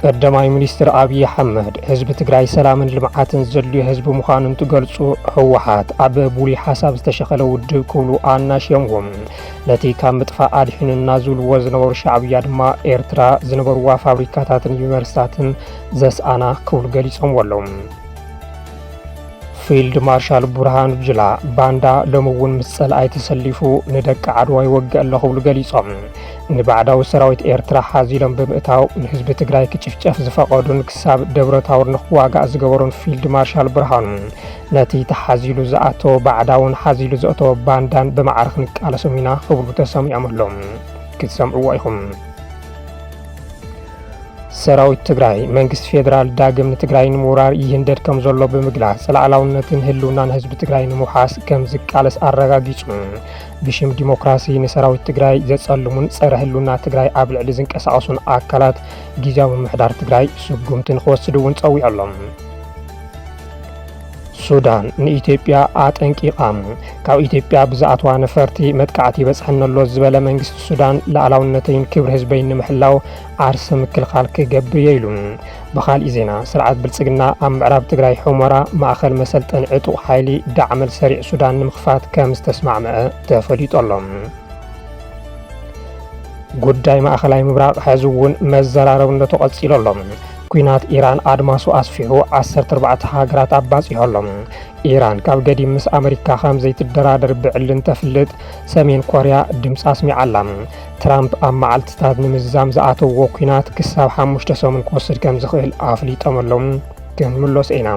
ቀዳማይ ሚኒስትር ኣብዪ ኣሕመድ ህዝቢ ትግራይ ሰላምን ልምዓትን ዘድልዮ ህዝቢ ምዃኑ እንትገልፁ ህወሓት ኣብ ብሉይ ሓሳብ ዝተሸኸለ ውድብ ክብሉ ኣናሽዮምዎም ነቲ ካብ ምጥፋእ ኣድሒኑና ዝብልዎ ዝነበሩ ሻዕብያ ድማ ኤርትራ ዝነበርዋ ፋብሪካታትን ዩኒቨርሲታትን ዘስኣና ክብሉ ገሊጾምዎ ኣለዉ። ፊልድ ማርሻል ቡርሃኑ ጁላ ባንዳ ሎሚ እውን ምስ ጸላኣይ ተሰሊፉ ንደቂ ዓድዋ ይወግእ ኣሎ ክብሉ ገሊጾም ንባዕዳዊ ሰራዊት ኤርትራ ሓዚሎም ብምእታው ንህዝቢ ትግራይ ክጭፍጨፍ ዝፈቐዱን ክሳብ ደብረ ታቦር ንክዋጋእ ዝገበሩን ፊልድ ማርሻል ብርሃኑ ነቲ ተሓዚሉ ዝኣተወ ባዕዳውን ሓዚሉ ዘእተወ ባንዳን ብማዕረ ክንቃለሶም ኢና ክብሉ ተሰሚዖም ኣሎም ክትሰምዕዎ ኢኹም ሰራዊት ትግራይ መንግስቲ ፌዴራል ዳግም ንትግራይ ንምውራር ይህንደድ ከም ዘሎ ብምግላጽ ላዕላውነትን ህልውናን ህዝቢ ትግራይ ንምውሓስ ከም ዝቃለስ ኣረጋጊጹ። ብሽም ዲሞክራሲ ንሰራዊት ትግራይ ዘጸልሙን ጸረ ህልውና ትግራይ ኣብ ልዕሊ ዝንቀሳቐሱን ኣካላት ግዜያዊ ምምሕዳር ትግራይ ስጉምቲ ንክወስዱ እውን ጸዊዑ ኣሎ። ሱዳን ንኢትዮጵያ ኣጠንቂቓ። ካብ ኢትዮጵያ ብዝኣትዋ ነፈርቲ መጥቃዕቲ ይበጽሐኒ ኣሎ ዝበለ መንግስቲ ሱዳን ላዕላውነተይን ክብሪ ህዝበይን ንምሕላው ዓርሰ ምክልኻል ክገብር እየ ኢሉ። ብኻልእ ዜና ስርዓት ብልጽግና ኣብ ምዕራብ ትግራይ ሑመራ ማእኸል መሰልጠኒ ዕጡቕ ሓይሊ ዳዕመል ሰሪዕ ሱዳን ንምኽፋት ከም ዝተስማዕመዐ ተፈሊጡ ኣሎ። ጉዳይ ማእኸላይ ምብራቕ ሕዚ እውን መዘራረብነቱ ቀፂሉ ኣሎ። ኲናት ኢራን ኣድማሱ ኣስፊሑ ዓሰርተ ኣርባዕተ ሃገራት ኣባጺሖ ኣሎ። ኢራን ካብ ገዲም ምስ ኣመሪካ ከም ዘይትደራደር ብዕሊ እንተፍልጥ፣ ሰሜን ኮርያ ድምጻ ኣስሚዓ ኣላ። ትራምፕ ኣብ መዓልትታት ንምዝዛም ዝኣተውዎ ኲናት ክሳብ ሓሙሽተ ሰሙን ክወስድ ከም ዝኽእል ኣፍሊጦም ኣለዉ። ክንምሎስ ኢና።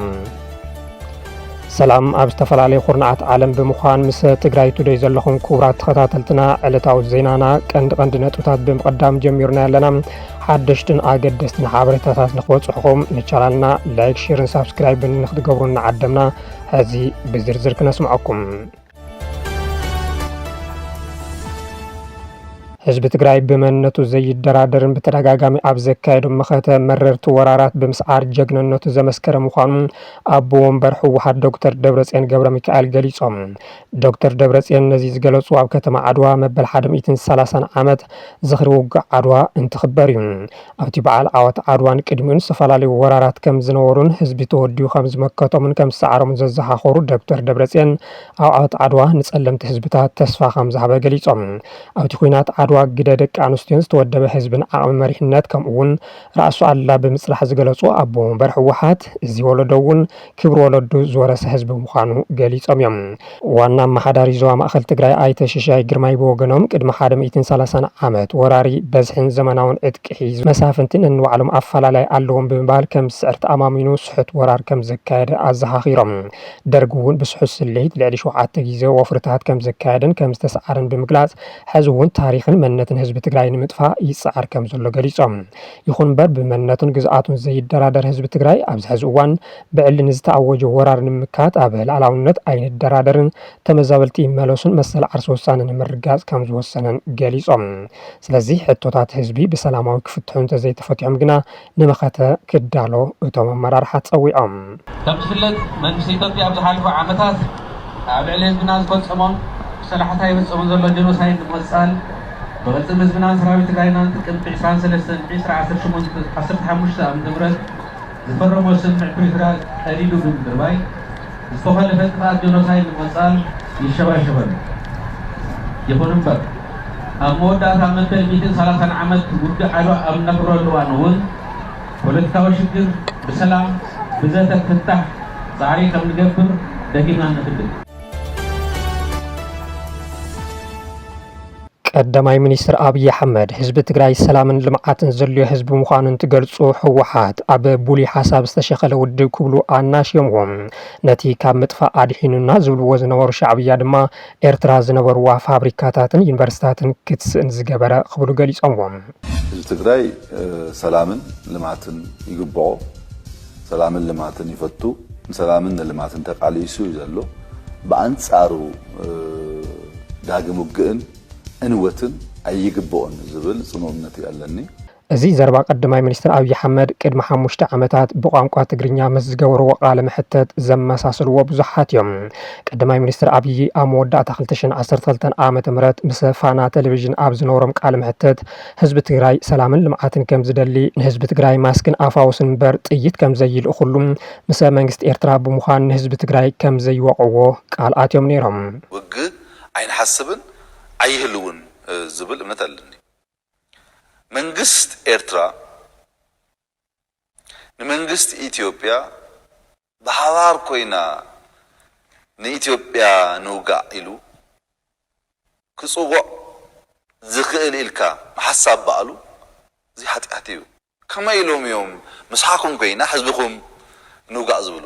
ሰላም ኣብ ዝተፈላለዩ ኩርናዓት ዓለም ብምዃን ምስ ትግራይ ቱደይ ዘለኹም ክቡራት ተኸታተልትና ዕለታዊ ዜናና ቀንዲ ቀንዲ ነጥብታት ብምቕዳም ጀሚርና ኣለና። ሓደሽትን ኣገደስትን ሓበሬታታት ንክበፅሑኹም ንቻናልና ላይክ፣ ሼርን ሳብስክራይብን ንክትገብሩ እናዓደምና ሕዚ ብዝርዝር ክነስምዐኩም። ህዝቢ ትግራይ ብመንነቱ ዘይደራደርን ብተደጋጋሚ ኣብ ዘካየዱ መኸተ መረርቲ ወራራት ብምስዓር ጀግንነቱ ዘመስከረ ምዃኑ ኣቦ ወንበር ህወሓት ዶክተር ደብረፅዮን ገብረ ሚካኤል ገሊፆም። ዶክተር ደብረፅዮን ነዚ ዝገለፁ ኣብ ከተማ ዓድዋ መበል ሓደ ሚእትን ሰላሳን ዓመት ዝኽሪ ውግእ ዓድዋ እንትኽበር እዩ። ኣብቲ በዓል ዓወት ዓድዋን ቅድሚኡን ዝተፈላለዩ ወራራት ከም ዝነበሩን ህዝቢ ተወዲቡ ከም ዝመከቶምን ከም ዝሰዓሮምን ዘዘኻኸሩ ዶክተር ደብረፅዮን ኣብ ዓወት ዓድዋ ንፀለምቲ ህዝብታት ተስፋ ከም ዝሃበ ገሊፆም። ኣብቲ ኲናት ዓድዋ ግደ ደቂ ኣንስትዮን ዝተወደበ ህዝብን ዓቕሚ መሪሕነት ከምኡ እውን ራእሱ ኣሉላ ብምፅራሕ ዝገለፁ ኣቦ ወንበር ህወሓት እዚ ወለዶ እውን ክብሪ ወለዱ ዝወረሰ ህዝቢ ምዃኑ ገሊፆም እዮም። ዋና ኣመሓዳሪ ዞባ ማእኸል ትግራይ ኣይተ ሽሻይ ግርማይ ብወገኖም ቅድሚ ሓደ ሚእትን ሰላሳን ዓመት ወራሪ በዝሒን ዘመናውን ዕጥቂ ሒዙ መሳፍንቲ ነንባዕሎም ኣፈላላይ ኣለዎም ብምባል ከም ዝስዕር ተኣማሚኑ ስሑት ወራር ከም ዘካየደ ኣዘኻኺሮም። ደርግ እውን ብስሑት ስልሒት ልዕሊ ሸውዓተ ግዘ ወፍርታት ከም ዘካየደን ከም ዝተስዓረን ብምግላፅ ሕዚ እውን ታሪኽን መንነትን ህዝቢ ትግራይ ንምጥፋእ ይፅዓር ከም ዘሎ ገሊፆም። ይኹን እምበር ብመንነቱን ግዝኣቱን ዘይደራደር ህዝቢ ትግራይ ኣብዚ ሕዚ እዋን ብዕሊ ንዝተኣወጀ ወራር ንምምካት ኣብ ልኣላውነት ኣይንደራደርን፣ ተመዛበልቲ ይመለሱን መሰል ዓርሰ ውሳነ ንምርግጋፅ ከምዝወሰነን ገሊፆም። ስለዚ ሕቶታት ህዝቢ ብሰላማዊ ክፍትሑ እንተዘይተፈቲሖም ግና ንመኸተ ክዳሎ እቶም ኣመራርሓ ፀዊዖም። ከም ዝፍለጥ መንግስቲ ኢትዮጵያ ኣብ ዝሓለፉ ዓመታት ኣብ ልዕሊ ህዝብና ዝፈፀሞን ብሰላሕታ ይፍፀሙ ዘሎ ጀኖሳይድ ንምቕፃል ብቕልፅም ህዝብናን ሰራዊት ትግራይናን ጥቅምቲ ዕስራን ሰለስተን ዕስራ ዓሰርተ ሸሞንተ ዓሰርተ ሓሙሽተ ዓ ም ዝፈረሞ ስምምዕ ፕሪቶርያ ቀዲዱ ብምድርባይ ዝተኾለፈ ጥፍኣት ጀኖሳይድ ንምቕፃል ይሸባሸብ ኣሎ። ይኹን እምበር ኣብ መወዳእታ መበል ሚእትን ሰላሳን ዓመት ውግእ ዓድዋ ኣብ እነኽብረሉ እዋን እውን፣ ፖለቲካዊ ሽግር ብሰላም ብዘተ ክፍታሕ ፃዕሪ ከምንገብር ደጊምና ንእክድም። ቀዳማይ ሚኒስትር ኣብይ ኣሕመድ ህዝቢ ትግራይ ሰላምን ልምዓትን ዘድልዮ ህዝቢ ምዃኑ እንትገልፁ ህወሓት ኣብ ብሉይ ሓሳብ ዝተሸኸለ ውድብ ክብሉ ኣናሽዮምዎም። ነቲ ካብ ምጥፋእ ኣድሒኑና ዝብልዎ ዝነበሩ ሻዕብያ ድማ ኤርትራ ዝነበርዋ ፋብሪካታትን ዩኒቨርሲታትን ክትስእን ዝገበረ ክብሉ ገሊፆምዎ። ህዝቢ ትግራይ ሰላምን ልማትን ይግብኦ። ሰላምን ልማትን ይፈቱ። ንሰላምን ንልማትን ተቃሊሱ እዩ ዘሎ። ብኣንፃሩ ዳግም ውግእን ዕንወትን ኣይግብኦን ዝብል ፅኑዕ እምነት እዩ ኣለኒ። እዚ ዘረባ ቀዳማይ ሚኒስትር ኣብዪ ኣሕመድ ቅድሚ ሓሙሽተ ዓመታት ብቋንቋ ትግርኛ ምስ ዝገበርዎ ቃለ መሕተት ዘመሳስልዎ ብዙሓት እዮም። ቀዳማይ ሚኒስትር ኣብዪ ኣብ መወዳእታ ክልተ ሽሕን ዓሰርተ ክልተን ዓመተ ምህረት ምስ ፋና ቴሌቪዥን ኣብ ዝነበሮም ቃለ መሕተት ህዝቢ ትግራይ ሰላምን ልምዓትን ከምዝደሊ፣ ንህዝቢ ትግራይ ማስክን ኣፋውስን እምበር ጥይት ከምዘይልእኹሉ፣ ምሰ መንግስቲ ኤርትራ ብምዃን ንህዝቢ ትግራይ ከምዘይወቕዕዎ ቃል ኣትዮም ነይሮም። ውግእ ኣይንሓስብን ኣይህልውን ዝብል እምነት ኣለኒ። መንግስት ኤርትራ ንመንግስት ኢትዮጵያ ብሓባር ኮይና ንኢትዮጵያ ንውጋእ ኢሉ ክጽውዕ ዝክእል ኢልካ ምሓሳብ ባዕሉ እዚ ሓጥያት ኢዩ። ከመይ ኢሎም ኢዮም ምሳኩም ኮይና ሕዝብኩም ንውጋእ ዝብሉ?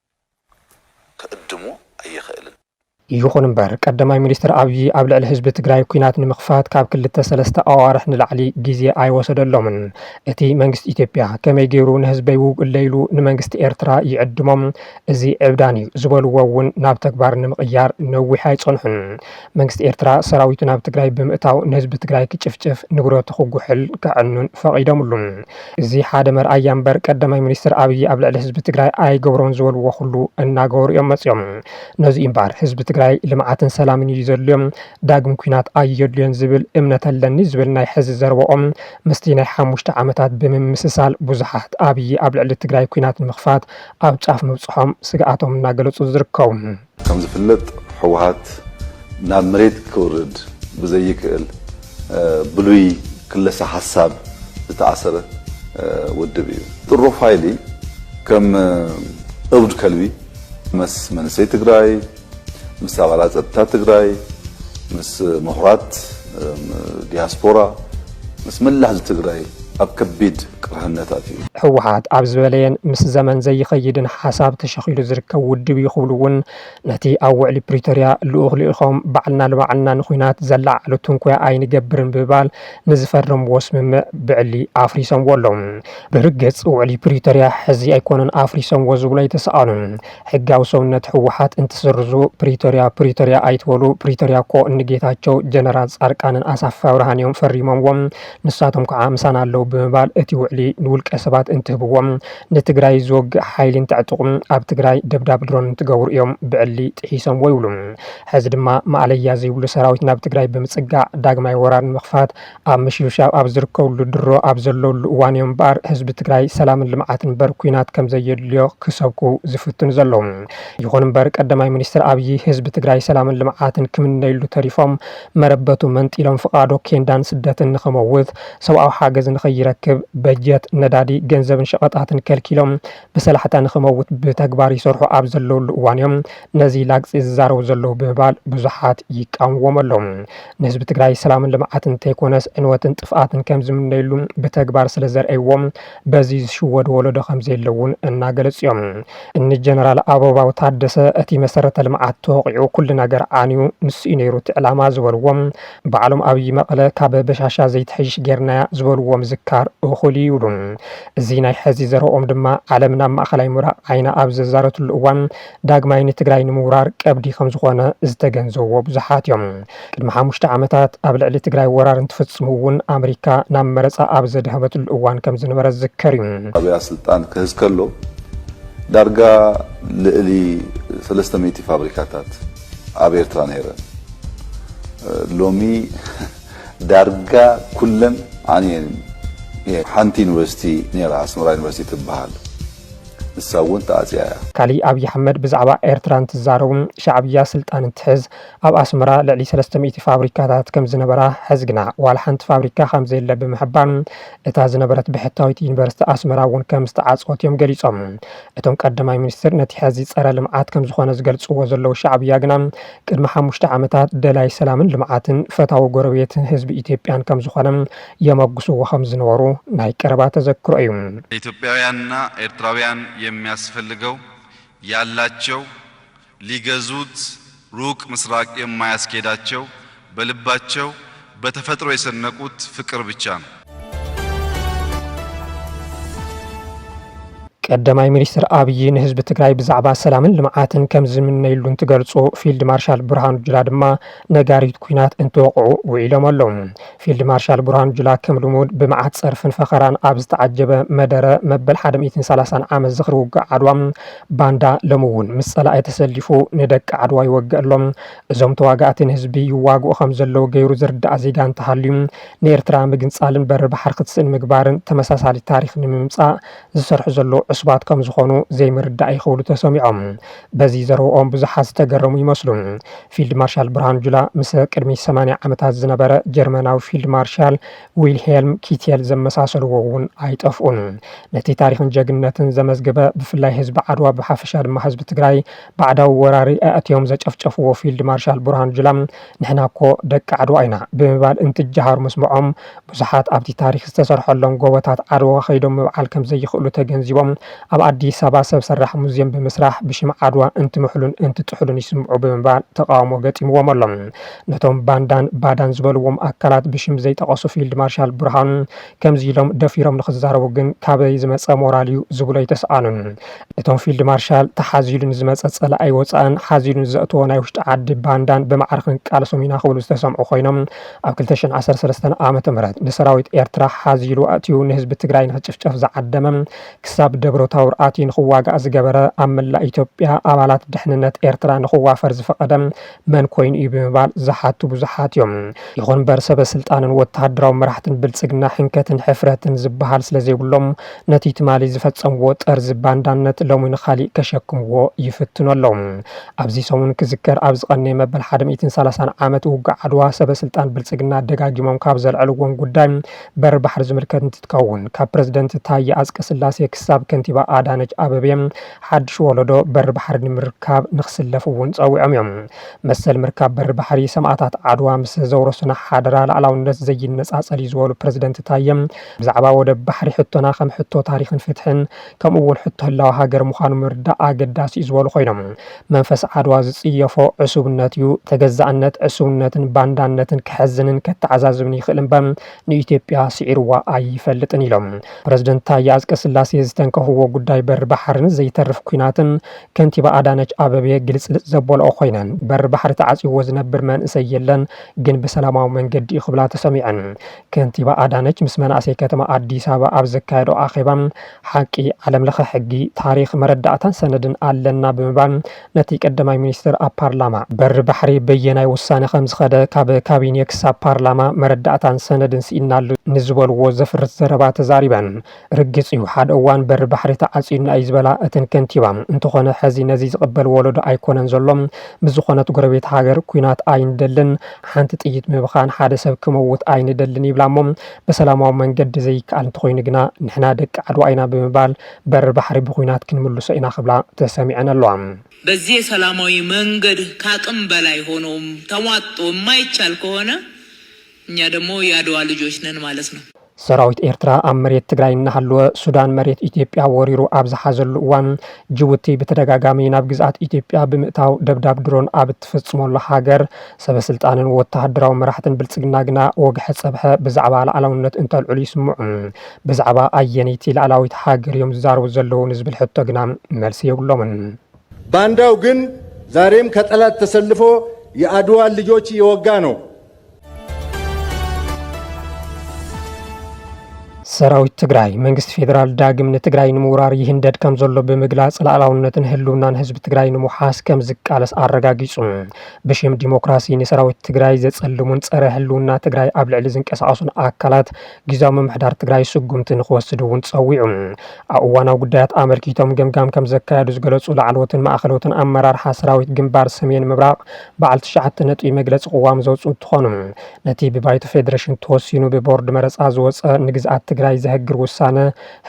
ክዕድሞ ኣይኽእልን። ይኹን እምበር ቀዳማይ ሚኒስትር ኣብዪ ኣብ ልዕሊ ህዝቢ ትግራይ ኲናት ንምኽፋት ካብ ክልተ ሰለስተ ኣዋርሕ ንላዕሊ ግዜ ኣይወሰደሎምን። እቲ መንግስቲ ኢትዮጵያ ከመይ ገይሩ ንህዝበይ ውግኡለይ ኢሉ ንመንግስቲ ኤርትራ ይዕድሞም? እዚ ዕብዳን'ዩ ዝበሉዎ እውን ናብ ተግባር ንምቕያር ነዊሕ ኣይጸንሑን። መንግስቲ ኤርትራ ሰራዊቱ ናብ ትግራይ ብምእታው ንህዝቢ ትግራይ ክጭፍጭፍ፣ ንብረቱ ክጉሕል፣ ከዕኑን ፈቒዶምሉ። እዚ ሓደ መርኣያ እምበር ቀዳማይ ሚኒስትር ኣብይ ኣብ ልዕሊ ህዝቢ ትግራይ ኣይገብሮን ዝበልዎ ኩሉ እናገበሩ እዮም መፂኦም። ነዚ እዩ እምበኣር ህዝቢ ትግራይ ልምዓትን ሰላምን እዩ ዘድልዮ ዳግም ኲናት ኣየድልዮን ዝብል እምነት ኣለኒ ዝብል ናይ ሕዚ ዘረበኦም ምስቲ ናይ ሓሙሽተ ዓመታት ብምምስሳል ብዙሓት ኣብይ ኣብ ልዕሊ ትግራይ ኲናት ንምኽፋት ኣብ ጫፍ ምብፅሖም ስግኣቶም እናገለፁ ዝርከቡ ከምዝፍለጥ ህወሓት ናብ መሬት ክውርድ ብዘይክእል ብሉይ ክለሳ ሓሳብ ዝተኣሰረ ውድብ እዩ። ጥሩፍ ሃይሊ ከም እብድ ከልቢ ምስ መንእሰይ ትግራይ፣ ምስ ኣባላት ፀጥታ ትግራይ፣ ምስ ምሁራት፣ ዲያስፖራ ምስ መላእ ህዝቢ ትግራይ ኣብ ከቢድ ቅርሕነት ኣትዩ። ህወሓት ኣብ ዝበለየን ምስ ዘመን ዘይኸይድን ሓሳብ ተሸኺሉ ዝርከብ ውድብ እዩ ክብሉ እውን ነቲ ኣብ ውዕሊ ፕሪቶርያ ልኡኽ ልኢኾም ባዕልና ንባዕልና ንኹናት ዘለዓዕሉ ትንኮያ ኣይንገብርን ብምባል ንዝፈረምዎ ስምምዕ ብዕሊ ኣፍሪሶምዎ ኣለው። ብርግፅ ውዕሊ ፕሪቶርያ ሕዚ ኣይኮኑን ኣፍሪሶምዎ ዝብሉ ኣይተሰኣኑን። ሕጋዊ ሰውነት ህወሓት እንትስርዙ ፕሪቶርያ ፕሪቶርያ ኣይትበሉ ፕሪቶርያ እኮ ንጌታቸው ጀነራል ፃርቃንን ኣሳፍ ኣብርሃን እዮም ፈሪሞምዎም ንሳቶም ከዓ ምሳና ኣለው ብምባል እቲ ውዕሊ ንውልቀ ሰባት እንትህብዎም ንትግራይ ዝወግእ ሓይሊ እንተዕጥቁ ኣብ ትግራይ ደብዳብ ድሮን እንትገብሩ እዮም ብዕሊ ጥሒሶምዎ ይብሉ ሐዚ ድማ ማእለያ ዘይብሉ ሰራዊት ናብ ትግራይ ብምፅጋዕ ዳግማይ ወራር ንምኽፋት ኣብ ምሽብሻብ ኣብ ዝርከብሉ ድሮ ኣብ ዘለውሉ እዋን እዮም እምበኣር ህዝቢ ትግራይ ሰላምን ልምዓትን እምበር ኲናት ከምዘየድልዮ ክሰብኩ ዝፍትኑ ዘለዉ። ይኹን እምበር ቀዳማይ ሚኒስትር ኣብዪ ህዝቢ ትግራይ ሰላምን ልምዓትን ክምነዩሉ ተሪፎም መረበቱ መንጢሎም ፍቓዶ ኬንዳን ስደትን ንኽመውት፣ ሰብኣዊ ሓገዝ ንኸይረክብ፣ በጀት፣ ነዳዲ፣ ገንዘብን ሸቐጣትን ከልኪሎም፣ ብሰላሕታ ንክመውት ብተግባር ይሰርሑ ኣብ ዘለውሉ እዋን እዮም ነዚ ላግፂ ዝዛረቡ ዘለው ብምባል ብዙሓት ይቃወምዎም ኣለው። ንህዝቢ ትግራይ ሰላምን ልምዓትን እንተይኮነስ ዕንወትን ጥፍኣትን ከምዝምነይሉ ብተግባር ስለዘርእይዎ በዚ ዝሽወድ ወለዶ ከምዘየለ እውን እናገለፁ እዮም። እኒ ጀነራል ኣበባው ታደሰ እቲ መሰረተ ልምዓት ተወቒዑ ኩሉ ነገር ዓንዩ ንሱ እዩ ነይሩ እቲ ዕላማ ዝበልዎ ባዕሎም ኣብይ መቐለ ካብ በሻሻ ዘይትሐይሽ ገይርናያ ዝበልዎ ምዝካር እኹል እዩ ይብሉ። እዚ ናይ ሐዚ ዘረብኦም ድማ ዓለም ናብ ማእኸላይ ምብራቕ ዓይና ኣብ ዘዛረትሉ እዋን ዳግማይ ንትግራይ ንምውራር ቀብዲ ከምዝኾነ ዝተገንዘቡዎ ብዙሓት እዮም። ቅድሚ ሓሙሽተ ዓመታት ኣብ ልዕሊ ትግራይ ወራር እንትፍፅሙ እውን ኣመሪካ ናብ መረፃ ኣብ ዘድሀበትሉ እዋን ከምዝነበረ ዝዝከር እዩ። ሻዕቢያ ስልጣን ክህዝ ከሎ ዳርጋ ልእሊ ሰለስተ ሚእቲ ፋብሪካታት ኣብ ኤርትራ ነይረን ሎሚ ዳርጋ ኩለን ዓንየን እየን። ሓንቲ ዩኒቨርሲቲ ነይራ ኣስመራ ዩኒቨርሲቲ ትበሃል ንሳ እውን ተዓፅያ እያ። ካሊእ ኣብይ ኣሕመድ ብዛዕባ ኤርትራ እንትዛረቡ ሻዕብያ ስልጣን እንትሕዝ ኣብ ኣስመራ ልዕሊ ሰለስተ ሚእቲ ፋብሪካታት ከምዝነበራ ሐዚ ግና ዋላ ሓንቲ ፋብሪካ ከምዘየለ ብምሕባር እታ ዝነበረት ብሕታዊት ዩኒቨርሲቲ ኣስመራ እውን ከምዝተዓፀወት እዮም ገሊፆም እቶም ቀዳማይ ሚኒስትር ነቲ ሐዚ ፀረ ልምዓት ከምዝኾነ ዝገልፅዎ ዘለዉ ሻዕብያ ግና ቅድሚ ሓሙሽተ ዓመታት ደላይ ሰላምን ልምዓትን ፈታዊ ጎረቤት ህዝቢ ኢትዮጵያን ከምዝኾነ የመጉስዎ ከምዝነበሩ ናይ ቀረባ ተዘክሮ እዩ። ለኢትዮጵያውያንና ኤርትራውያን የሚያስፈልገው ያላቸው ሊገዙት ሩቅ ምስራቅ የማያስኬዳቸው በልባቸው በተፈጥሮ የሰነቁት ፍቅር ብቻ ነው። ቀዳማይ ሚኒስትር ኣብዪ ንህዝቢ ትግራይ ብዛዕባ ሰላምን ልምዓትን ከም ዝምነይሉ እንትገልፁ ፊልድ ማርሻል ብርሃኑ ጁላ ድማ ነጋሪት ኩናት እንትወቕዑ ውዒሎም ኣለዉ። ፊልድ ማርሻል ብርሃኑ ጁላ ከም ልሙድ ብመዓት ፀርፍን ፈኸራን ኣብ ዝተዓጀበ መደረ መበል 130 ዓመት ዝኽሪ ውግእ ዓድዋ ባንዳ ሎሚ እውን ምስ ፀላኢ ተሰሊፉ ንደቂ ዓድዋ ይወግእ ኣሎ፣ እዞም ተዋጋእቲ ንህዝቢ ይዋግኡ ከም ዘለዉ ገይሩ ዝርዳእ ዜጋ እንተሃልዩ ንኤርትራ ምግንጻልን በሪ ባሕሪ ክትስእን ምግባርን ተመሳሳሊ ታሪኽ ንምምጻእ ዝሰርሑ ዘለዉ ዕሱባት ከም ዝኾኑ ዘይምርዳእ እዩ ክብሉ ተሰሚዖም። በዚ ዘረብኦም ብዙሓት ዝተገረሙ ይመስሉ። ፊልድ ማርሻል ብርሃኑ ጁላ ምስ ቅድሚ ሰማንያ ዓመታት ዝነበረ ጀርመናዊ ፊልድ ማርሻል ዊልሄልም ኪቴል ዘመሳሰልዎ እውን ኣይጠፍኡን። ነቲ ታሪኽን ጀግንነትን ዘመዝገበ ብፍላይ ህዝቢ ዓድዋ ብሓፈሻ ድማ ህዝቢ ትግራይ ባዕዳዊ ወራሪ ኣእትዮም ዘጨፍጨፍዎ ፊልድ ማርሻል ብርሃኑ ጁላ ንሕና እኮ ደቂ ዓድዋ ኢና ብምባል እንትጀሃሩ ምስምዖም ብዙሓት ኣብቲ ታሪኽ ዝተሰርሐሎም ጎቦታት ዓድዋ ከይዶም ምብዓል ከምዘይኽእሉ ተገንዚቦም ኣብ ኣዲስ ኣበባ ሰብ ሰራሕ ሙዝየም ብምስራሕ ብሽም ዓድዋ እንትምሕሉን እንትጥሕሉን ይስምዑ ብምባል ተቓውሞ ገጢምዎም ኣሎ። ነቶም ባንዳን ባዳን ዝበልዎም ኣካላት ብሽም ዘይጠቐሱ ፊልድ ማርሻል ብርሃኑ ከምዚ ኢሎም ደፊሮም ንኽዛረቡ ግን ካበይ ዝመፀ ሞራል እዩ ዝብሉ ኣይተስኣኑን። እቶም ፊልድ ማርሻል ተሓዚሉ ንዝመፀ ፀላኢ ወፃእን ሓዚሉ ንዘእተዎ ናይ ውሽጢ ዓዲ ባንዳን ብማዕረ ክንቃለሶም ኢና ክብሉ ዝተሰምዑ ኮይኖም ኣብ ክልተ ሽሕን ዓሰርተ ሰለስተን ዓመተ ምህረት ንሰራዊት ኤርትራ ሓዚሉ ኣእትዩ ንህዝቢ ትግራይ ንኽጭፍጨፍ ዝዓደመ ክሳብ ደብረታውር ኣትዩ ንኽዋጋእ ዝገበረ ኣብ መላእ ኢትዮጵያ ኣባላት ድሕንነት ኤርትራ ንኽዋፈር ዝፈቐደ መን ኮይኑ እዩ ብምባል ዝሓቱ ብዙሓት እዮም። ይኹን እምበር ሰበ ስልጣንን ወተሃደራዊ መራሕትን ብልፅግና ሕንከትን ሕፍረትን ዝበሃል ስለዘይብሎም ነቲ ትማሊ ዝፈፀምዎ ጠርዚ ባንዳነት ሎሚ ንኻሊእ ከሸክምዎ ይፍትኑ ኣለው። ኣብዚ ሰሙን ክዝከር ኣብ ዝቐነየ መበል ሓደ ሚእትን ሰላሳን ዓመት ውግእ ዓድዋ ሰበ ስልጣን ብልፅግና ደጋጊሞም ካብ ዘልዐልዎም ጉዳይ በሪ ባሕሪ ዝምልከት እንትትከውን ካብ ፕረዚደንት ታየ ኣፅቀስላሴ ክሳብ ከንቲባ ኣዳነች ኣበቤ ሓድሽ ወለዶ በሪ ባሕሪ ንምርካብ ንክስለፍ እውን ፀዊዖም እዮም። መሰል ምርካብ በሪ ባሕሪ ሰማእታት ዓድዋ ምስ ዘውረሱና ሓደራ ላዕላውነት ዘይነፃፀል እዩ ዝበሉ ፕረዚደንት ታየ፣ ብዛዕባ ወደብ ባሕሪ ሕቶና ከም ሕቶ ታሪኽን ፍትሕን ከምኡ እውን ሕቶ ህላወ ሃገር ምዃኑ ምርዳእ ኣገዳሲ እዩ ዝበሉ ኮይኖም፣ መንፈስ ዓድዋ ዝፅየፎ ዕሱብነት እዩ፣ ተገዛእነት፣ ዕሱብነትን ባንዳነትን ከሕዝንን ከተዓዛዝብን ይኽእል እምበር ንኢትዮጵያ ስዒርዋ ኣይፈልጥን ኢሎም ፕረዚደንት ታዬ ኣፅቀስላሴ ዝተንከፍዎ ጉዳይ በሪ ባሕርን ዘይተርፍ ኲናትን ከንቲባ ኣዳነች ኣበቤ ግልፅልፅ ዘበልኦ ኮይነን በሪ ባሕሪ ተዓፅይዎ ዝነብር መንእሰይ የለን ግን ብሰላማዊ መንገዲ እዩ ክብላ ተሰሚዐን። ከንቲባ ኣዳነች ምስ መናእሰይ ከተማ ኣዲስ ኣበባ ኣብ ዘካየደኦ ኣኼባ ሓቂ፣ ዓለም ለኸ ሕጊ፣ ታሪኽ፣ መረዳእታን ሰነድን ኣለና ብምባል ነቲ ቀዳማይ ሚኒስትር ኣብ ፓርላማ፣ በሪ ባሕሪ በየናይ ውሳነ ከም ዝኸደ፣ ካብ ካቢኔ ክሳብ ፓርላማ መረዳእታን ሰነድን ስኢንናሉ ንዝበልዎ ዘፍርስ ዘረባ ተዛሪበን። ርግጽ እዩ፣ ሓደ እዋን በሪ ባሕሪ ተዓጽዩና እዩ ዝበላ እተን ከንቲባ፣ እንተኾነ ሕዚ ነዚ ዝቕበል ወለዶ ኣይኮነን ዘሎ። ምስ ዝኾነት ጎረቤት ሃገር ኲናት ኣይንደልን፣ ሓንቲ ጥይት ምብኻን ሓደ ሰብ ክመውት ኣይንደልን ይብላ'ሞ፣ ብሰላማዊ መንገዲ ዘይከኣል እንተኾይኑ ግና ንሕና ደቂ ዓድዋ ኢና ብምባል በሪ ባሕሪ ብኩናት ክንምልሶ ኢና ክብላ ተሰሚዐን ኣለዋ። በዚህ የሰላማዊ መንገድ ካቅም በላይ ሆኖም ተሟጦ የማይቻል ከሆነ እኛ ደግሞ የአድዋ ልጆች ነን ማለት ነው። ሰራዊት ኤርትራ ኣብ መሬት ትግራይ እናሃለወ ሱዳን መሬት ኢትዮጵያ ወሪሩ ኣብ ዝሓዘሉ እዋን ጅቡቲ ብተደጋጋሚ ናብ ግዝኣት ኢትዮጵያ ብምእታው ደብዳብ ድሮን ኣብ እትፍጽመሉ ሃገር ሰበስልጣንን ወተሃደራዊ መራሕትን ብልጽግና ግና ወግሐ ጸብሐ ብዛዕባ ላዕላውነት እንተልዕሉ ይስምዑ። ብዛዕባ ኣየነይቲ ልኣላዊት ሃገር እዮም ዝዛረቡ ዘለዉ ንዝብል ሕቶ ግና መልሲ የብሎምን። ባንዳው ግን ዛሬም ከጠላት ተሰልፎ የኣድዋን ልጆች እየወጋ ነው። ሰራዊት ትግራይ መንግስቲ ፌዴራል ዳግም ንትግራይ ንምውራር ይህንደድ ከም ዘሎ ብምግላጽ ላዕላውነትን ህልውናን ህዝቢ ትግራይ ንምውሓስ ከም ዝቃለስ ኣረጋጊጹ። ብሽም ዲሞክራሲ ንሰራዊት ትግራይ ዘጸልሙን ጸረ ህልውና ትግራይ ኣብ ልዕሊ ዝንቀሳቐሱን ኣካላት ግዝያዊ ምምሕዳር ትግራይ ስጉምቲ ንክወስድ እውን ፀዊዑ። ኣብ እዋናዊ ጉዳያት ኣመልኪቶም ገምጋም ከምዘካየዱ ዝገለፁ ላዕለዎትን ማእኸለዎትን ኣመራርሓ ሰራዊት ግንባር ሰሜን ምብራቕ በዓል ትሽዓተ ነጥቢ መግለፂ ቅዋም ዘውፅኡ እንትኾኑ ነቲ ብባይቶ ፌዴሬሽን ተወሲኑ ብቦርድ መረፃ ዝወፀ ንግዝኣት ትግራይ ዘሀግር ውሳነ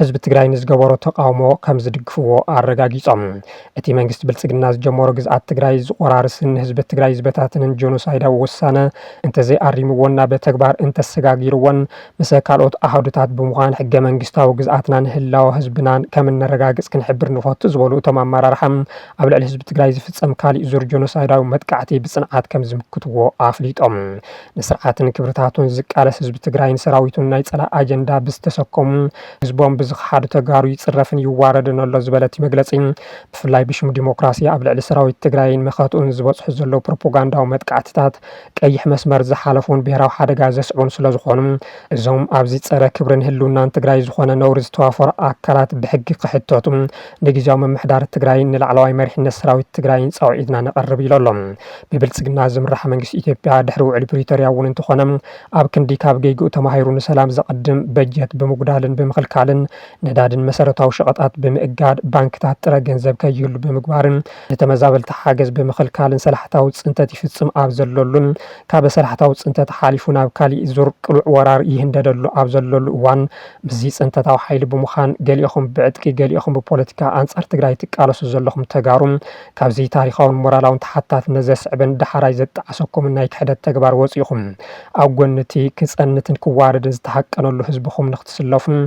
ህዝቢ ትግራይ ንዝገበሮ ተቓውሞ ከምዝድግፍዎ ኣረጋጊፆም። እቲ መንግስቲ ብልፅግና ዝጀመሮ ግዝኣት ትግራይ ዝቖራርስን ንህዝቢ ትግራይ ዝበታትንን ጆኖሳይዳዊ ውሳነ እንተዘይኣሪምዎን ናብ ተግባር እንተሰጋጊርዎን ምሰ ካልኦት ኣሃዱታት ብምዃን ሕገ መንግስታዊ ግዝኣትናን ህላወ ህዝብናን ከምነረጋግፅ ክንሕብር ንፈቱ ዝበሉ እቶም ኣመራርሓ ኣብ ልዕሊ ህዝቢ ትግራይ ዝፍፀም ካሊእ ዙር ጆኖሳይዳዊ መጥቃዕቲ ብፅንዓት ከምዝምክትዎ ኣፍሊጦም። ንስርዓትን ክብርታቱን ዝቃለስ ህዝቢ ትግራይን ሰራዊቱን ናይ ፀላኢ ኣጀንዳ ብዝተሰከሙ ህዝቦም ብዝኸሓዱ ተጋሩ ይፅረፍን ይዋረድን ኣሎ ዝበለ እቲ መግለፂ፣ ብፍላይ ብሽም ዲሞክራሲ ኣብ ልዕሊ ሰራዊት ትግራይን መኸትኡን ዝበፅሑ ዘለዉ ፕሮፖጋንዳዊ መጥቃዕትታት ቀይሕ መስመር ዝሓለፉን ብሄራዊ ሓደጋ ዘስዕቡን ስለዝኾኑ እዞም ኣብዚ ፀረ ክብርን ህልውናን ትግራይ ዝኾነ ነውሪ ዝተዋፈሩ ኣካላት ብሕጊ ክሕተቱ ንግዝያዊ ምምሕዳር ትግራይን ንላዕለዋይ መሪሕነት ሰራዊት ትግራይን ፃውዒትና ነቐርብ ኢሉ ኣሎ። ብብልፅግና ዝምራሕ መንግስቲ ኢትዮጵያ ድሕሪ ውዕሊ ፕሪቶርያ እውን እንተኾነ ኣብ ክንዲ ካብ ጌግኡ ተማሂሩ ንሰላም ዘቐድም፣ በጀት ብምጉዳልን ብምኽልካልን፣ ነዳድን መሰረታዊ ሸቐጣት ብምእጋድ፣ ባንክታት ጥረ ገንዘብ ከይህሉ ብምግባርን፣ ንተመዛበልቲ ሓገዝ ብምኽልካልን ሰላሕታዊ ፅንተት ይፍፅም ኣብ ዘለሉን፣ ካበ ሰላሕታዊ ፅንተት ሓሊፉ ናብ ካሊእ ዙር ቅሉዕ ወራር ይህንደደሉ ኣብ ዘለሉ እዋን፣ ምስዚ ፅንተታዊ ሓይሊ ብምዃን ገሊእኹም ብዕጥቂ ገሊእኹም ብፖለቲካ ኣንፃር ትግራይ ትቃለሱ ዘለኹም ተጋሩ ካብዚ ታሪኻውን ሞራላውን ተሓታትነት ዘስዕብን ዳሕራይ ዘጣዕሰኩምን ናይ ክሕደት ተግባር ወጺእኹም ኣብ ጎኒ እቲ ክጸንትን ክዋረድን ዝተሃቀነሉ ህዝብኹም ንክትስለፉን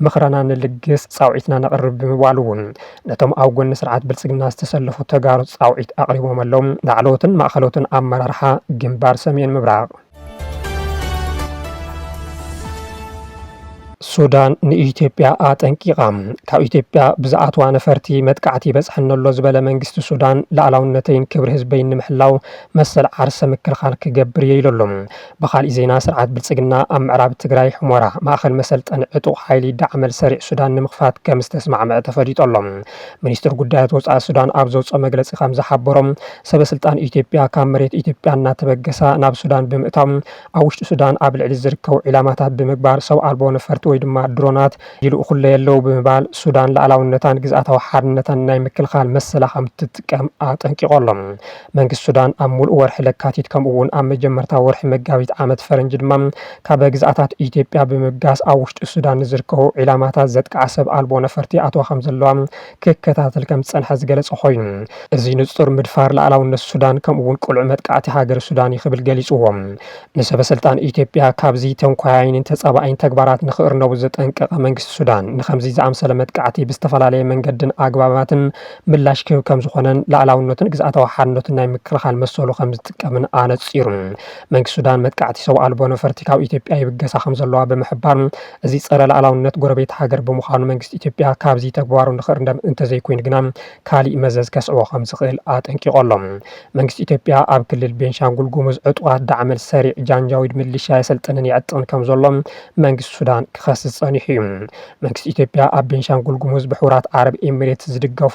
ምኽረና ንልግስ ጻውዒትና ነቕርብ ብምባል እውን ነቶም ኣብ ጎኒ ስርዓት ብልጽግና ዝተሰለፉ ተጋሩ ጻውዒት ኣቕሪቦም ኣለው። ላዕለዎትን ማእኸሎትን ኣመራርሓ ግንባር ሰሜን ምብራቕ። ሱዳን ንኢትዮጵያ ኣጠንቂቓ። ካብ ኢትዮጵያ ብዝኣትዋ ነፈርቲ መጥቃዕቲ ይበጽሐኒ ኣሎ ዝበለ መንግስቲ ሱዳን ላዕላውነተይን ክብሪ ህዝበይን ንምሕላው መሰል ዓርሰ ምክልኻል ክገብር እየ ኢሉ ኣሎ። ብኻሊእ ዜና ስርዓት ብልጽግና ኣብ ምዕራብ ትግራይ ሑመራ ማእኸል መሰልጠኒ ዕጡቕ ሓይሊ ዳዕመል ሰሪዕ ሱዳን ንምኽፋት ከምዝተስማዕምዐ ተፈሊጡ ኣሎ። ሚኒስትር ጉዳያት ወፃኢ ሱዳን ኣብ ዘውፅኦ መግለፂ ከምዝሓበሮ ሰበስልጣን ኢትዮጵያ ካብ መሬት ኢትዮጵያ እናተበገሳ ናብ ሱዳን ብምእታው ኣብ ውሽጢ ሱዳን ኣብ ልዕሊ ዝርከቡ ዒላማታት ብምግባር ሰብ ኣልቦ ነፈርቲ ወይ ድማ ድሮናት ይልእኹለይ ኣለው ብምባል ሱዳን ልኣላውነታን ግዝኣታዊ ሓርነታን ናይ ምክልኻል መሰላ ከምትጥቀም ኣጠንቂቑ ኣሎ። መንግስቲ ሱዳን ኣብ ሙሉእ ወርሒ ለካቲት ከምኡ እውን ኣብ መጀመርታ ወርሒ መጋቢት ዓመት ፈረንጂ ድማ ካብ ግዝኣታት ኢትዮጵያ ብምብጋስ ኣብ ውሽጢ ሱዳን ንዝርከቡ ዒላማታት ዘጥቅዓ ሰብ ኣልቦ ነፈርቲ ይኣትዋ ከምዘለዋ ክከታተል ከም ዝጸንሐ ዝገለጸ ኮይኑ፣ እዚ ንጹር ምድፋር ልኣላውነት ሱዳን ከምኡ'ውን ቅሉዕ መጥቃዕቲ ሃገረ ሱዳን'ዩ ክብል ገሊጽዎ። ንሰበስልጣን ኢትዮጵያ ካብዚ ተንኮያይን ተጻባኢን ተግባራት ንኽእርነቡ ዘጠንቀቐ መንግስቲ ሱዳን፣ ንኸምዚ ዝኣምሰለ መጥቃዕቲ ብዝተፈላለየ መንገድን ኣግባባትን ምላሽ ክህብ ከም ዝኾነን ልኣላውነቱን ግዝኣታዊ ሓድነቱን ናይ ምክልኻል መሰሉ ከም ዝጥቀምን ኣነጺሩ። መንግስቲ ሱዳን መጥቃዕቲ ሰውኣልቦ ነፈርቲ ካብ ኢትዮጵያ ይብገሳ ከም ዘለዋ ብምሕባር፣ እዚ ፀረ ልኣላውነት ጎረቤት ሃገር ብምዃኑ መንግስቲ ኢትዮጵያ ካብዚ ተግባሩ ንክእርንደም እንተዘይኮይኑ ግና ካሊእ መዘዝ ከስዕቦ ከምዝኽእል ኣጠንቂቑ ኣሎ። መንግስቲ ኢትዮጵያ ኣብ ክልል ቤንሻንጉል ጉሙዝ ዕጡቓት ዳዕመል ሰሪዕ ጃንጃዊድ ምልሻ የሰልጥንን የዕጥቕን ከምዘሎ መንግስቲ ሱዳን ክኸስስ ፀኒሑ እዩ። መንግስቲ ኢትዮጵያ ኣብ ቤንሻንጉል ጉሙዝ ብሕቡራት ዓረብ ኤሚሬትስ ዝድገፉ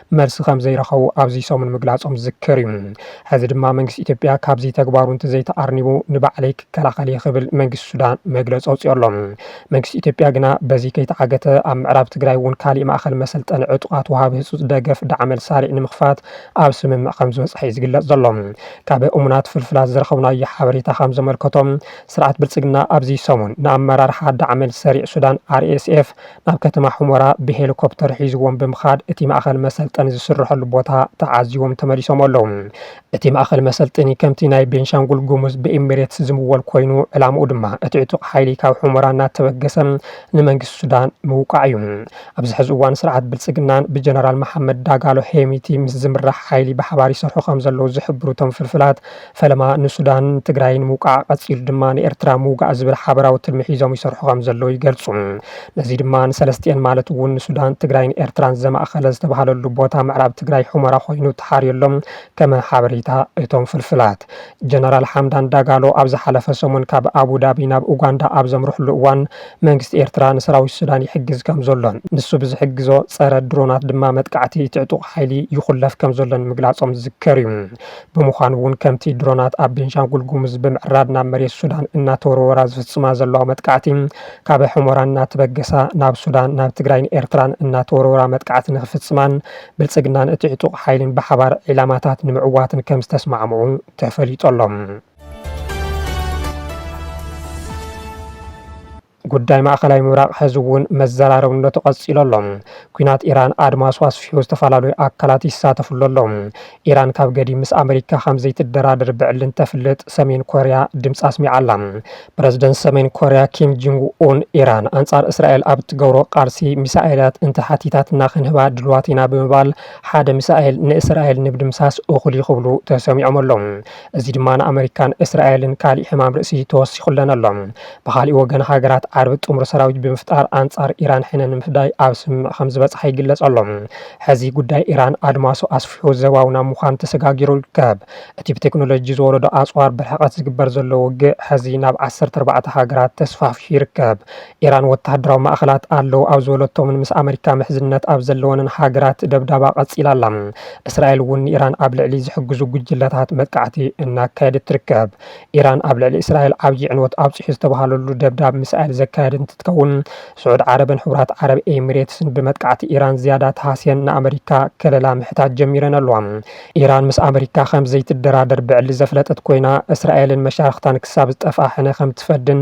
መልሲ ከም ዘይረኸቡ ኣብዚ ሰሙን ምግላፆም ዝዝከር እዩ። ሕዚ ድማ መንግስቲ ኢትዮጵያ ካብዚ ተግባሩ እንተዘይተኣርኒቡ ንባዕለይ ክከላኸል እየ ክብል መንግስቲ ሱዳን መግለፂ ኣውፂኡ ኣሎ። መንግስቲ ኢትዮጵያ ግና በዚ ከይተዓገተ ኣብ ምዕራብ ትግራይ እውን ካሊእ ማእኸል መሰልጠኒ ዕጡቓት ወሃቢ ህፁፅ ደገፍ ዳዕመል ሳሪዕ ንምኽፋት ኣብ ስምምዕ ከም ዝበፅሐ እዩ ዝግለፅ ዘሎ። ካብ እሙናት ፍልፍላት ዝረኸብናዮ ሓበሬታ ከም ዘመልከቶ ስርዓት ብልፅግና ኣብዚ ሰሙን ንኣመራርሓ ዳዕመል ሰሪዕ ሱዳን፣ RSF፣ ናብ ከተማ ሑመራ ብሄሊኮፕተር ሒዙዎም ብምኻድ እቲ ማእኸል መሰልጠኒ ዝስረሐሉ ቦታ ተዓዚቦም ተመሊሶም ኣለው። እቲ ማእኸል መሰልጠኒ ከምቲ ናይ ቤንሻንጉል ጉሙዝ ብኢሚሬትስ ዝምወል ኮይኑ ዕላምኡ ድማ እቲ ዕጡቕ ሓይሊ ካብ ሑመራ እናተበገሰ ንመንግስቲ ሱዳን ምውቃዕ እዩ። ኣብዚ ሕዚ እዋን ስርዓት ብልፅግናን ብጀነራል መሓመድ ዳጋሎ ሄሚቲ ምስ ዝምራሕ ሓይሊ ብሓባር ይሰርሑ ከምዘለው ዝሕብሩ እቶም ፍልፍላት ፈለማ ንሱዳንን ትግራይን ምውቃዕ፣ ቀጺሉ ድማ ንኤርትራ ምውጋእ ዝብል ሓበራዊ ትልሚ ሒዞም ይሰርሑ ከም ዘለዉ ይገልጹ። ነዚ ድማ ንሰለስቲኤን ማለት እውን ንሱዳን፣ ትግራይን ኤርትራን ዘማእከለ ዝተባህለሉ ቦታ ምዕራብ ትግራይ ሑመራ ኮይኑ ተሓርዩ ኣሎ ከመ ሓበሬታ እቶም ፍልፍላት። ጀነራል ሓምዳን ዳጋሎ ኣብ ዝሓለፈ ሰሙን ካብ ኣቡዳቢ ናብ ኡጋንዳ ኣብ ዘምርሕሉ እዋን መንግስቲ ኤርትራ ንሰራዊት ሱዳን ይሕግዝ ከም ዘሎን ንሱ ብዝሕግዞ ጸረ ድሮናት ድማ መጥቃዕቲ እቲ ዕጡቕ ሓይሊ ይኹለፍ ከም ዘሎን ምግላጾም ዝዝከር እዩ። ብምዃኑ እውን ከምቲ ድሮናት ኣብ ቤንሻንጉል ጉሙዝ ብምዕራብ ናብ መሬት ሱዳን እናተወርወራ ዝፍፅማ ዘለዋ መጥቃዕቲ ካብ ሑመራ እናተበገሳ ናብ ሱዳን፣ ናብ ትግራይን ኤርትራን እናተወርወራ መጥቃዕቲ ንክፍፅማን ብልፅግናን እቲ ዕጡቕ ሓይሊን ብሓባር ዒላማታት ንምዕዋትን ከምዝተስማዕምዑ ተፈሊጡ ኣሎ። ጉዳይ ማእኸላይ ምብራቕ ሐዚ እውን መዘራረብነቱ ቀፂሉ ኣሎ። ኲናት ኢራን ኣድማሱ ኣስፊሑ ዝተፈላለዩ ኣካላት ይሳተፍሉ ኣለዉ። ኢራን ካብ ገዲም ምስ ኣመሪካ ከምዘይትደራደር ብዕሊ እንተፍልጥ ሰሜን ኮርያ ድምፃ ኣስሚዓ ኣላ። ፕረዝደንት ሰሜን ኮርያ ኪም ጅንግ ኡን ኢራን ኣንፃር እስራኤል ኣብ እትገብሮ ቃልሲ ሚሳኤላት እንተሓቲታትና ክንህባ ድልዋት ኢና ብምባል ሓደ ሚሳኤል ንእስራኤል ንምድምሳስ እኹል እዩ ክብሉ ተሰሚዖም ኣለው። እዚ ድማ ንኣመሪካን እስራኤልን ካሊእ ሕማም ርእሲ ተወሲኹለን ኣሎ። ብኻሊእ ወገን ሃገራት ዓረብ ጥምር ሰራዊት ብምፍጣር ኣንፃር ኢራን ሕነ ንምፍዳይ ኣብ ስምምዕ ከምዝበፅሓ ይግለፅ ኣሎ። ሕዚ ጉዳይ ኢራን ኣድማሱ ኣስፊሑ ዘባዊ ናብ ምዃን ተሰጋጊሩ ይርከብ። እቲ ብቴክኖሎጂ ዝወረዶ ኣፅዋር ብርሕቐት ዝግበር ዘሎ ውግእ ሕዚ ናብ ዓሰርተ ኣርባዕተ ሃገራት ተስፋሕፊሑ ይርከብ። ኢራን ወተሃደራዊ ማእኸላት ኣለው ኣብ ዝበለቶምን ምስ ኣመሪካ ምሕዝነት ኣብ ዘለወንን ሃገራት ደብዳባ ቀፂላ ኣላ። እስራኤል እውን ንኢራን ኣብ ልዕሊ ዝሕግዙ ጉጅለታት መጥቃዕቲ እናካየደት ትርከብ። ኢራን ኣብ ልዕሊ እስራኤል ዓብዪ ዕንወት ኣብፂሑ ዝተብሃለሉ ደብዳብ ሚሳኤል ዘካየደት እንትትከውን፣ ስዑድ ዓረብን ሕቡራት ዓረብ ኤሚሬትስን ብመጥቃዕቲ ኢራን ዝያዳ ተሃስየን ንኣመሪካ ከለላ ምሕታት ጀሚረን ኣለዋ። ኢራን ምስ ኣመሪካ ከምዘይትደራደር ብዕሊ ዘፍለጠት ኮይና፣ እስራኤልን መሻርኽታን ክሳብ ዝጠፍኣ ሕነ ከምትፈድን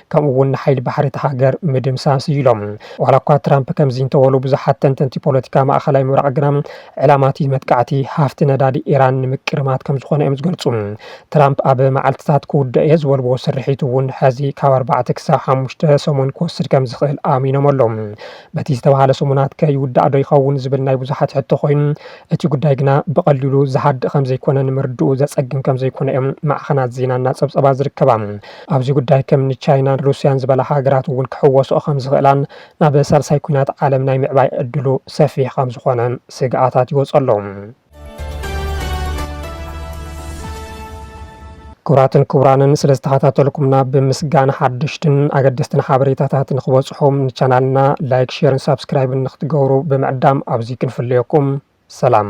ከምኡ እውን ንሓይሊ ባሕሪ እታ ሃገር ምድምሳስ እዩ ኢሎም። ዋላ እኳ ትራምፕ ከምዚ እንተበሉ ብዙሓት ተንተንቲ ፖለቲካ ማእኸላይ ምብራቕ ግና ዕላማ እቲ መጥቃዕቲ ሃፍቲ ነዳዲ ኢራን ንምቅርማት ከምዝኾነ እዮም ዝገልፁ። ትራምፕ ኣብ መዓልቲታት ክውደእ እየ ዝበልዎ ስርሒት እውን ሐዚ ካብ ኣርባዕተ ክሳብ ሓሙሽተ ሰሙን ክወስድ ከምዝኽእል ኣሚኖም ኣለው። በቲ ዝተብሃለ ሰሙናት ከ ይውዳእ ዶ ይኸውን ዝብል ናይ ብዙሓት ሕቶ ኮይኑ እቲ ጉዳይ ግና ብቐሊሉ ዝሃድእ ከምዘይኮነ ንምርድኡ ዘፀግም ከምዘይኮነ እዮም ማዕኸናት ዜና እናፀብፀባ ዝርከባ። ኣብዚ ጉዳይ ከም እኒ ቻይናን ሩስያን ዝበላ ሃገራት እውን ክሕወስኦ ከም ዝኽእላን ናብ ሳልሳይ ኲናት ዓለም ናይ ምዕባይ ዕድሉ ሰፊሕ ከም ዝኾነን ስግኣታት ይወፅ ኣሎ። ክቡራትን ክቡራንን ስለ ዝተኸታተልኩምና ብምስጋና ሓደሽትን ኣገደስትን ሓበሬታታት ንክበፅሑም ንቻናልና ላይክ ሼርን ሳብስክራይብን ንክትገብሩ ብምዕዳም ኣብዚ ክንፍለየኩም ሰላም